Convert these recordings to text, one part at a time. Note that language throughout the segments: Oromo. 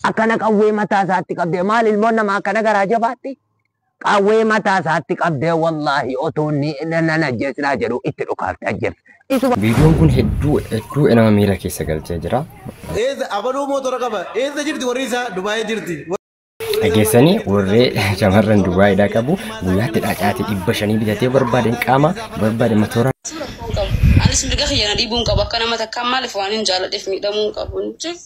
Akkana qawwee mataa isaatti qabdee maal ilmoon nama akkana garaa jabaatti? Qawwee mataa isaatti qabdee wallaahi otoo inni nan ajjeesinaa jedhu itti dhukaafte ajjeefte. Isuma Viidiyoon kun hedduu hedduu nama miira keessa galchee jira. Eessa abaluu mootora qaba. Eessa jirti warri isaa Dubaayee jirti. Dhageessanii warree shamarran Dubaayidhaa qabu guyyaatti dhacaatii dhibba shanii bitatee barbaadeen qaama barbaade matoora Anis mirga kiyya na dhiibuun qabu akka nama takkaan maaliif waan hin jaaladheef miidhamuun qabu.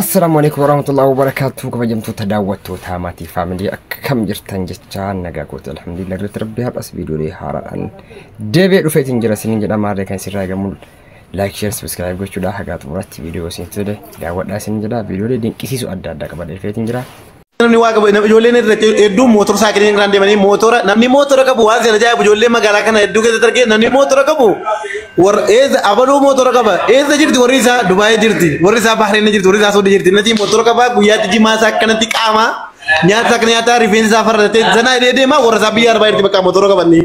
Assalaamu alaikum warahmatullahi wabarakatuh kabajamtoota daawwattootaa maatii faamilii akkam jirtan jechaa nagaa goote alhamdulillah irratti rabbi har'as viidiyoolee haaraadhaan deebi'ee dhufee isin jira isinin jedha maarree kan isin raagamu laayik sheer sabiskiraayib gochuudhaa hagaa xumuratti viidiyoo isin tole daawwadhaa isin jedha viidiyoolee dinqisiisu adda addaa qabadee dhufee isin jira namni waa qabu nam- ijoolleen irra hedduu mootora saayikiliin irraan deemanii mootora namni mootora qabu waan seera ajaa'ibu ijoollee magaalaa kana hedduu keessatti argee namni mootora qabu warra eessa abaluu mootora qaba eessa jirti warri isaa dubaayee jirti warri isaa bahreen jirti warri isaa soodii jirti natii mootora qaba guyyaatti jimaa isaa akkanatti qaama nyaata akka nyaataa rifeensa isaa farratee sanaa hidhee deema warra isaa biyya arbaa jirti bakka mootora qabannee.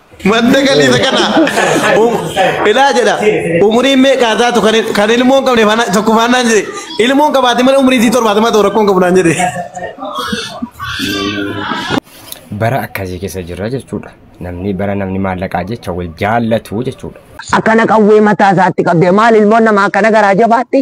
Madda galii isa kana. Um- Ilaa jedha. Umuriin meeqaa taatu kan il- kan ilmoo hin qabne faana- tokko faanaan jedhe. Ilmoo hin qabaate malee umriin isii torbaatama ta'u rakkoo hin qabu naan jedhe. bara akkasii keessa jirra jechuudha namni bara namni maallaqaa jecha wal jaallatu jechuudha akkana qawwee mataa isaatti qabdee maal ilmoon namaa akkana garaa jabaatti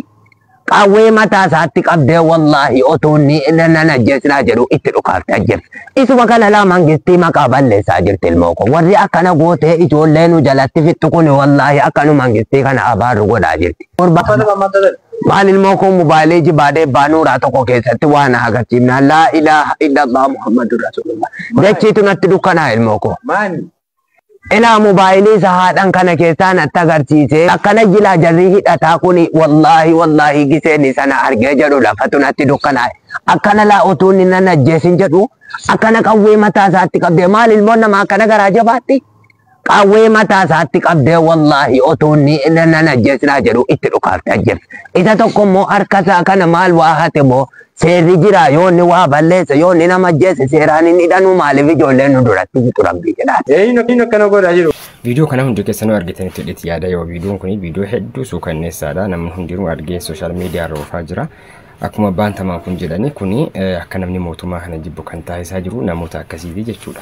Qawwee mataa isaatti qabdee wallaahi otuu inni nan ajjeesinaa jedhu itti dhukaafte ajjeefte. Isuma kana laa mangistii maqaa balleessaa jirti ilmoo koo. Warri akkana gootee ijoollee nu jalatti fixxu kun wallaahi akkanu mangistii kana abaarru godhaa jirti. Gurba maal ilmoo koo mobaayilii jibaadee baanuuraa tokko keessatti waa na agarsiifnaan laa ilaaha illallah muhammadun rasulullah. Dachiitu natti dukkanaa ilmoo koo. Maani? Ilaa mobaayilii sahaadhan kana keessaa natti agarsiise. Akkana jilaa jarrii hidhataa kuni wallaahi wallaahi giseen isana argee jedhu lafatu natti dukkanaa'e. Akkana laa otuu inni nan ajjeesin jedhu akkana qawwee mataa isaatti qabdee maal ilmoon namaa akkana garaa jabaatti? Qawwee mataa isaatti qabdee wallaahi otuu inni nan ajjeesinaa jedhu itti dhukaafte ajjeefte. Isa tokko immoo harka isaa kana maal waa hate moo Seerri jira yoo inni waa balleesse yoo inni nama ajjeesse seeraan hin hidhanuu maaliif ijoolleen nu duratti fixu rabbii jedhaa. Eeyyiin akkana godha jiru. Viidiyoo kana hundi keessanuu argitanitti hidhiti yaada yoo viidiyoon kun viidiyoo hedduu suukanneessaadha namni hundinuu argee sooshaal miidiyaa irra oofaa jira. Akkuma abbaan tamaan kun jedhani kuni akka namni mootummaa kana jibbu kan taasisaa jiru namoota akkasiiti jechuudha.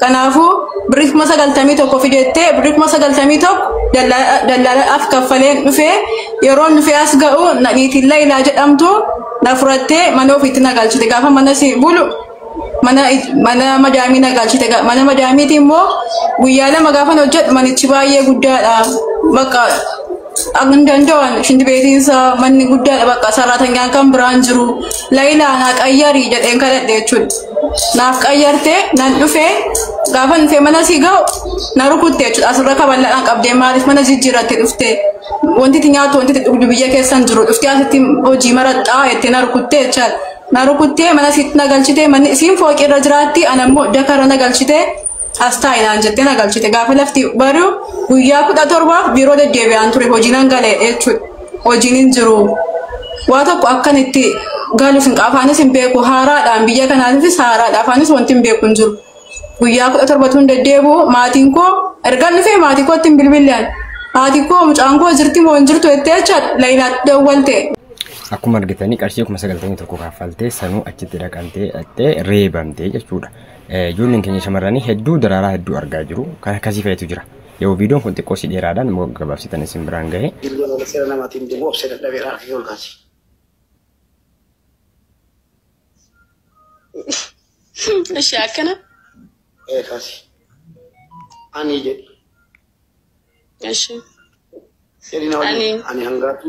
Kanaafuu birrii kuma sagaltamii tokko fideettee birrii kuma sagaltamii tokko daldalaaf kaffaleen dhufee yeroon dhufee as ga'u nadhiitiin Layilaa jedhamtu na furattee mana ofiitti na galchite gaafa mana si bulu mana mana madaamii na galchite mana madaamiiti immoo guyyaa lama gaafan hojjedhu manichi baay'ee guddaadha bakka Hin danda'an shinti beetiin isaa manni guddaadha bakka sarratanyaan kan biraan jiru layilaa naa qayyari jedheen kadhadhe jechuudha. Naaf qayyarte nan dhufe gaafa dhufee mana sii ga'u na rukutte jechuudha asirra kaballadhaan qabdee maaliif mana jijjiirratti dhufte wanti itti nyaattu wanti itti dhugdu biyya keessan jiru dhuftee asitti hojii maraxxaa jettee na rukutte jechaadha. Na rukuttee mana siitti na galchite manni isiin fooqii irra jiraatti anammoo dakarra na galchite As taa'i naan jettee na galchite. Gaafa lafti bari'u guyyaa kudha torbaaf biiroo deddeebi'aan ture hojii nan gale jechuudha. Hojiin hin jiru. Waa tokko akkan itti galus hin afaanis hin beeku. Haaraadhaan biyya kanaatiifis haaraadha. Afaanis wanti hin beeku hin jiru. Guyyaa kudha torbatu hin deddeebi'u. Maatiin koo ergan dhufee maatii kootti hin bilbilaan. Haati koo mucaan koo jirti moo hin jirtu jettee jecha Layilaatti dawwalte. Akkuma argitanii qarshii kuma sagaltamii tokko kaffaltee sanuu achitti dhaqantee dhaqxee reebamtee jechuudha. Ijoolleen keenya shamarranii hedduu daraaraa hedduu argaa jiru. Kan akkasii fa'itu jira. Yoo viidiyoon kun xiqqoo si dheeraadhaan immoo gabaabsitan isin biraan gahe. Dilbee malee seera namaatiin deemu obsee dadhabeera harka kee ol kaasi. Ishi akkana. Ee kaasi. Ani jedhi. Ishi. Seerina waliin ani hangaatu.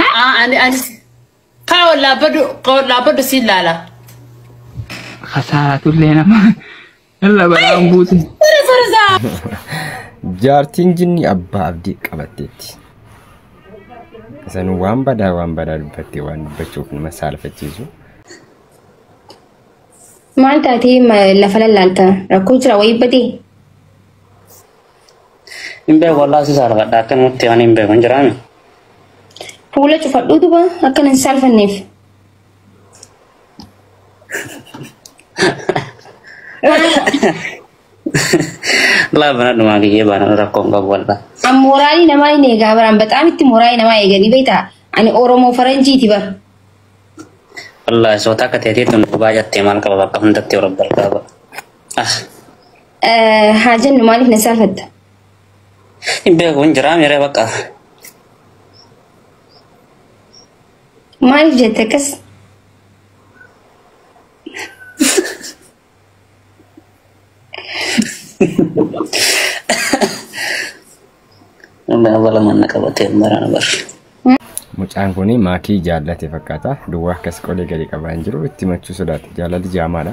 Haa ani ani kaa ol dhaabbadhu kaa ol dhaabbadhu siin laala. Kasaaraa tullee nama irra balaan buute. Sore sore saa. Jaartiin jinni abbaa abdii qabatteetti. Isan waan badaa waan badaa dubbattee waan dubbachuuf nama saalfachiisu. Maal taatee ma- lafa lallaalta rakkoo jira wayii badee. Hin beeku wallaahi si saalfadha akkanumatti waan hin beeku hin jiraami. Fuula cufadhuu duba akka nan saalfanneef. Laa bana dhumaa kiyyee baana rakkoo hin qabu wallaahi. An mooraalii namaa hin eegaa baraan baxaam itti mooraalii namaa eeganii beektaa ani Oromoo Faranjiiti bara. Wallaahi soota akka ta'eetii tun dhugaa jattee maal qaba bakka hundatti warra barbaaba. Ah. Haa jennu maaliif na saafatta? Hin beeku hin jiraa miree bakka. Maaliif jette akkas? Nama balama na qabatee mara na barre. Mucaan kun maakii jaallate fakkaata. Duwwaa akkas qolee gadi qabaa hin jiru. Itti machuu sodaate. Jaalalli jaamaadha.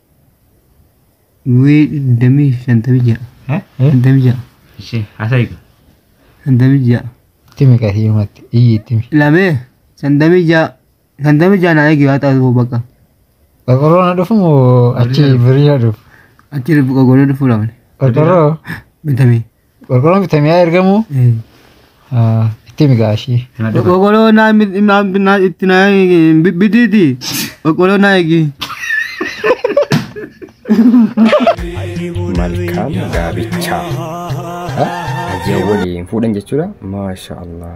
Wii digdamii shantamii ja'a. Eh? Shantamii ja'a. Ishee haasa'ika. Shantamii ja'a. Itti meeqa hiimatti? Iyyi itti mi. Lamee shantamii ja'a. Shantamii ja'a naa eegi haa taatu bakka. Qorqorroo na dhufu moo achi birii na dhufu? Achi qorqorroo dhufuu lamne. Qorqorroo Bitamee. Qorqorroon bitamee haa ergamu. Itti himi gaashii. Qoqoloo naa mi- naa naa itti naa hin bi- bitiiti. Qoqoloo naa eegi. malkaan gaabichaa. Ajee waliin fuudhan jechuudha. Maasha Allah.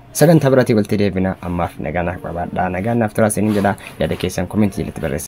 Sagantaa biraatii walitti deebina ammaaf nagaa naaf qabaadhaa nagaan naaf turaa isiniin jedha yaada keessan komentii jalatti barreessa.